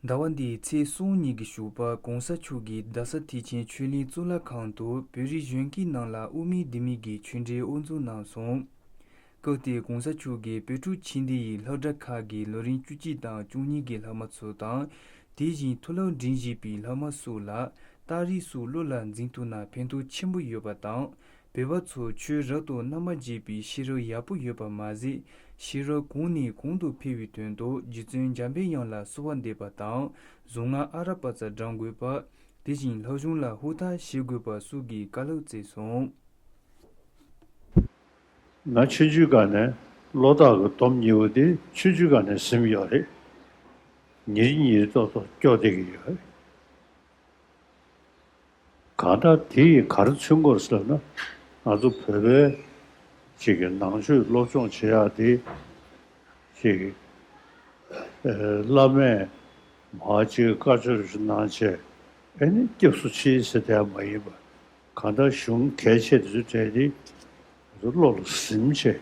ཟླ་བ་འདིའི་ཚེས་གསུམ་ཉིན་གྱི་བཞུགས་པ་གོང་ས་མཆོག་གིས་རྡ་ས་ཐེག་ཆེན་ཆོས་གླིང་གཙུག་ལག་ཁང་དུ་བོད་རིགས་གཞོན་སྐྱེས་རྣམས་ལ་དབུ་མེད་ལྡེ་མིག་གི་ཆོས་འབྲེལ་དབུ་འཛུགས་གནང་སོང། སྐབས་དེར་གོང་ས་མཆོག་གིས་བོད་ཕྲུག་ཕྱི་སྡེ་ཡི་ལྷག་གྲྭ་ཁག་གི་ལོ་རིམ་བཅུ་གཅིག་དང་བཅུ་གཉིས་ཀྱི་ལྷག་མ་ཚོ་དང། དེ་བཞིན་མཐོ་སློབ་འབྲིང་བཞི་པའི་ལྷག་མ་སུ་ལ་རྟགས་རིས་སུ་བློ་ལ་འཛིན་ཐུབ་ན་ཕན་ཐོགས་ཆེན་པོ་ཡོད་པ་དང། བོད་པ་ཚོ་ཆོས་རབ་ཏུ་གནམ་མ་རྗེས་པའི་ཤེས་རབ་ཡག་པོ་ཡོད་པ་མ་ཟད་ཤེས་རབ་གོང་ནས་གོང་དུ་འཕེལ་བའི་དོན་དུ་རྗེ་བཙུན་འཇམ་པའི་དབྱངས་ལ་གསོལ་བ་འདེབས་པ་དང་གཟུངས་སྔགས་ཨ་ར་པ་རྩ་བགྲང་དགོས་པ། དེ་བཞིན་ལྷ་གཞུང་ལ་ཧུར་ཐག་བྱེད་དགོས་པ་སུ་གིས་བཀའ་སློབ་བསྩལ་སོང། ང་ཆོས་བརྒྱུད་ག་ནས་བློ་བདག་གི་སྡོམ་གཉིས་པོ་དེ་ཆོས་བརྒྱུད་ག་ནས་ཟིན་ཡོད་རེད། ཉེར་གཉིས་ཏོག་ཏོག་སྐྱོ་བསྡད་ཀྱི་ཡོད། གང་ལྟར་དེ་ཡིས་ག་རེ་མཚོན་སྐོར་ཟེར་ན། ང་ཚོ་བོད་པའི་ཅིག་གི་ནང་ཆོས་སློབ་སྦྱོང་བྱེད་ཡག་དེ། ཅིག་བླ་མས་མ་ཅིག་བཀའ་ཆོས་རེ་ཞུ་གནང་བྱས་ཨེ་ནི་སྐྱབས་སུ་མཆི་ཟེར་དེ་ཡང་མ་ཡིན་པར། གང་ལྟར་གཞུང་གལ་ཆེ་དེ་ཚོ་བྲལ་ཏེ། ང་ཚོ་བློ་ལ་གཟིམ་བྱས།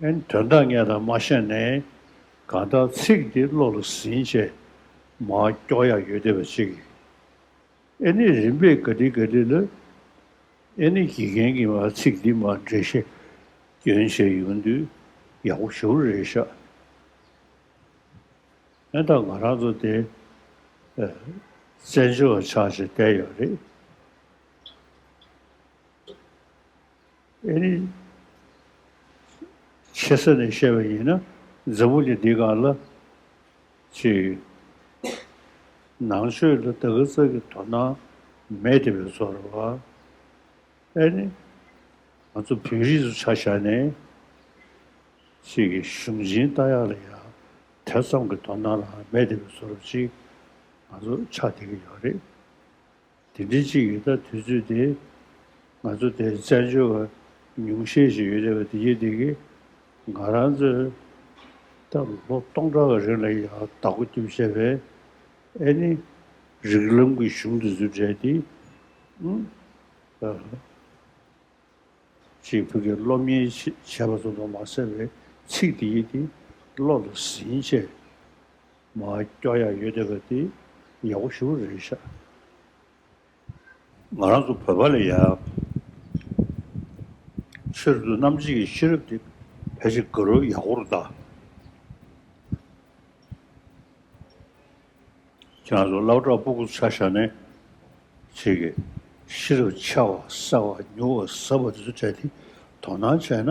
དོན་དག་ངེས་དང་མ་ཤེས་ནས་གང་ལྟར་ཚིག་འདི་བློ་ལ་ཟིན་རྗེས་མ་སྐྱོ་ཡག་ཡོད་བསྡད་པ་གཅིག་ཡིན། ཨེ་ནི་རིམ་པས་དགའ་འདི་དགའ་འདི་ལ་ཨེ་ནི་དགེ་རྒན་གྱིས་མ་ཚིག་འདི་མ་འགྲེལ་ཤེས་སྐྱོན་བྱས་ཡོང་དུས་ཡག་པོ་ཞུ་རེ་བྱ། ཨེ་ད་ང་རང་ཚོ་དེ་བཙན་བྱོལ་བ་ཆགས་ཆེ་བསྡད་ཡོད་རེད། ཨེ་རེད། ཆེ་ས་ནས་བཤད་པ་ཡིན་ན་འཛམ་བུ་གླིང་འདི་ག་ལ་ཅི་ཡོད། ནང་ཆོས་ལ་ད་གི་ཙག་གི་དོ་སྣང་མེད་དེ་བས་ཚོར་བ་ཨེ་རེད། ང་ཚོ་བོད་རིགས་སུ་ཆ་བཞག་ནས་ཅིག་གི་གཞུང་ཆེན་ལྟ་ཡག་ལ་ཡག་དེ་ཙམ་གི་དོ་སྣང་རང་མེད་དེ་བས་ཚོར་བ་ཅིག་ང་ཚོ་ཆགས་བསྡད་ཀྱི་ཡོད་རེད། དེ་འདྲའི་ཅིག་ཡོད་ད་དུས་ཚོད་དེ། ང་ཚོ་དེར་བཙལ་འབྱོར་བ་ཉུང་ཤས་ཤིག་ཡོད་རེད་བ་དེ་ཡིད་འདི་གི། ང་རང་ཚོས་ད་ལོ་སྟོང་ཕྲག་གི་རིང་ལ་ཡང་བདག་པོ་རྒྱུ་བྱས་པའི་ཨེ་ནི། རིགས་ལམ་གྱི་གཞུང་དེ་ཚོའི་གྲས་དེ། ཨུན། ཨ། ཅེས་བོད་ཀྱི་སློབ་གཉེར་བྱས་པ་ཚོ་དང་མ་བསྲེས་པའི་ཚིག་དེ་ཡིད་འདི་བློ་ལ་ཟིན་བྱས། མ་སྐྱོ་ཡག་ཡོད་བསྡད་པ་དེ་ཡག་པོ་ཞུ་རེད་བཞག་ང་རང་ཚོ་བོད་པ་ལ་ཡག་ཕྱིར་བསྡུ་རྣམ་གཅིག་གི་ཤེས་རབ་དེ་ཕལ་ཆེར་དགའ་རོགས་ཡག་པོ་རུ་གདའ། ཁྱེད་རང་ཚོ་བླ་བྲག་སྤུ་གུ་ཚ་ཞྭ་ནས་ཚིག་གི་ཤེས་རབ་ཆེ་བ་གསལ་བ་མྱུར་བ་ཟབ་པ་དེ་ཚོ་བྲལ་ཏེ་དོ་སྣང་བྱས་ན།